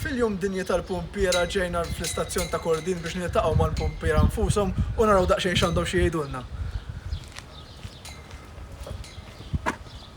Fil-Jum Dinji tal-Pumpiera ġejna fl-istazzjon ta' Kordin biex niltaqgħu mal-pumpiera nfushom u naraw daqsxejn x'għandhom xi jgħidulna.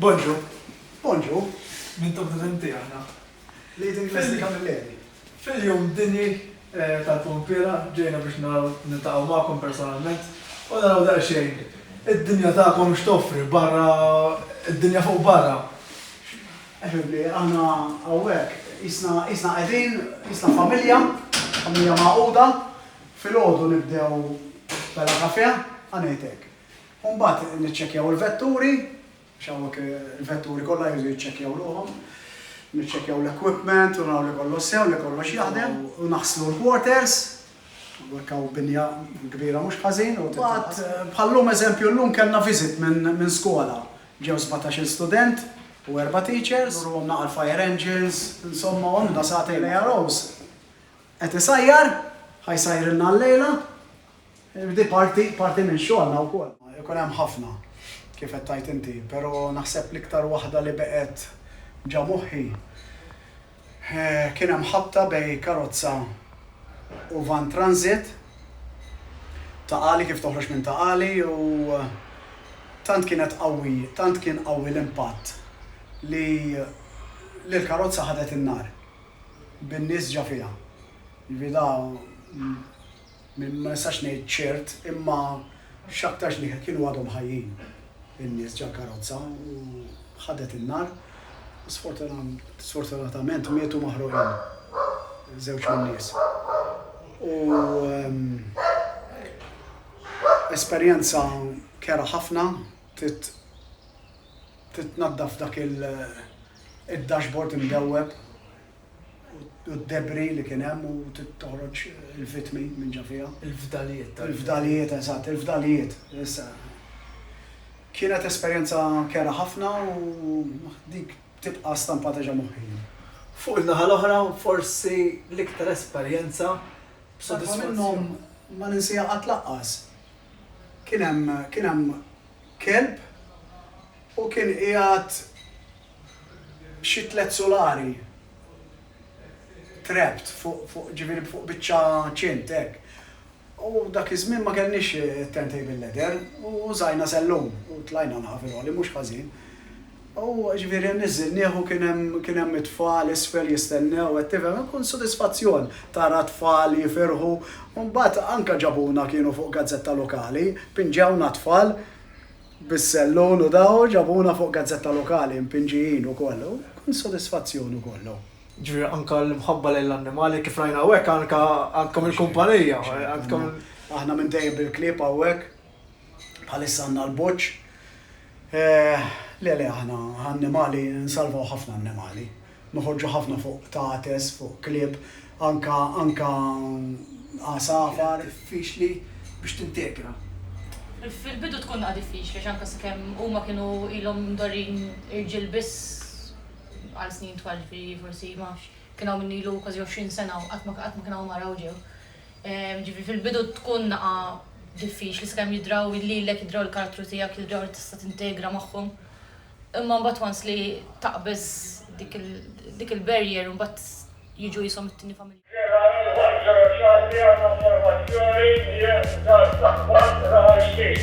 Bonġu. Bonġu. Minn top prezenti aħna. Leading Classic Camilleri. Fil-jum dini eh, tal-pompira ġejna biex naraw nintaqgħu magħkom personalment u naraw daqsxejn id-dinja tagħkom x'toffri barra id-dinja fuq barra. Eħibli, aħna hawnhekk isna isna qegħdin, isna familja, familja magħquda, Filgħodu nibdew bella kafè, ħa ngħid hekk. U mbagħad niċċekkjaw il-vetturi, għax hawnhekk il-vetturi kollha jridu jiċċekkjaw ruħhom, niċċekkjaw l-equipment u naraw li kollox sew, li kollox jaħdem, u naħslu l-quarters, hawnhekk hawn binja kbira mhux ħażin u titnaqqas. Mbagħad bħal-lum eżempju llum kellna visit minn skola, ġew sbatax-il student u erba' teachers, nurruhom naqal fire engines, insomma għamilna sagħtejn. L-AROs Qed isajjar, ħa jsajrilna llejla. Di parti, parti minn xogħolna wkoll. Ikun hemm ħafna, kif qed tgħid inti, pero naħseb l-iktar waħda li beqgħet ġa moħħi kien hemm ħabta bej karozza u vann transit, Ta' Qali kif toħroġ minn Ta' Qali u tant kienet qawwi, tant kien qawwi l-impatt li li l-karozza ħadet in-nar. bin-nies ġa fiha. Jiġifieri da ma nistax ngħid ċert imma x'aktarx li kienu għadhom ħajjin in-nies ġall-karozza u ħadet in-nar u sfortunatament mietu maħruqin żewġ min-nies. U esperjenza kerha ħafna trid Trid tnaddaf dak id-dashboard imdewweb u d-debris li kien hemm u trid toħroġ il-vittmi minn ġo fiha. Il-fdalijiet tal-. Il-fdalijiet, eżatt, il-fdalijiet. Issa, kienet esperjenza kerha ħafna u dik tibqa' stampata ġo moħħi. Fuq in-naħa l-oħra, forsi l-iktar esperjenza b'sodisfazzjon. Waħda minnhom ma ninsiha qatt lanqas. Kien hemm, kien hemm kelb u kien qiegħed xi tliet sulari trapped fuq fuq ġifieri fuq biċċa ċint hekk. U dak iż-żmien ma kellniex turntable ladder u użajna sellum u tlajna l-ħafilgħoli mhux ħażin. U ġifieri nniżżilnieh u kien hemm kien hemm it-tfal isfel jistennew, qed tifhem, ikun sodisfazzjon tara t-tfal jifirħu. U mbagħad anke ġabuna kienu fuq gazzetta lokali, pinġewna t-tfal bis-sellun u daw u ġabuna fuq gazzetta lokali mpinġijin ukoll. U kien sodisfazzjon ukoll hu. Ġifieri anke l-imħabba lejn l-annimali kif rajna hawnhekk anke għandkom il-kumpanija, għandkom. Aħna minn dejjem bil-klieb hawnhekk. Bħalissa għandna l-boċċ. Le, le, aħna annimali, nsalvaw ħafna annimali. Noħorġu ħafna fuq qtates, fuq klieb, anka, anka għasafar. Diffiċli biex tintegra. Fil-bidu tkun daqqa diffiċli għax anka sakemm huma kienu ilhom mdorrin irġiel biss għal snin twal, ġifieri forsi, ma nafx, kien hawn min ilu kważi 20 sena u qatt ma, qatt ma kien hawn mara u ġew. Ġifieri fil-bidu tkun naqa' diffiċli sakemm jidraw lilek, jidraw il-karattru tiegħek, jidraw li tista' tintegra magħhom. Imma mbagħad once li taqbeż dik il-barrier mbagħad jiġu qishom it-tieni familja. Sierra ieħor ġewwa Xagħti għal konformazzjoni hija Dar Saħwan, Raħal Ġdid.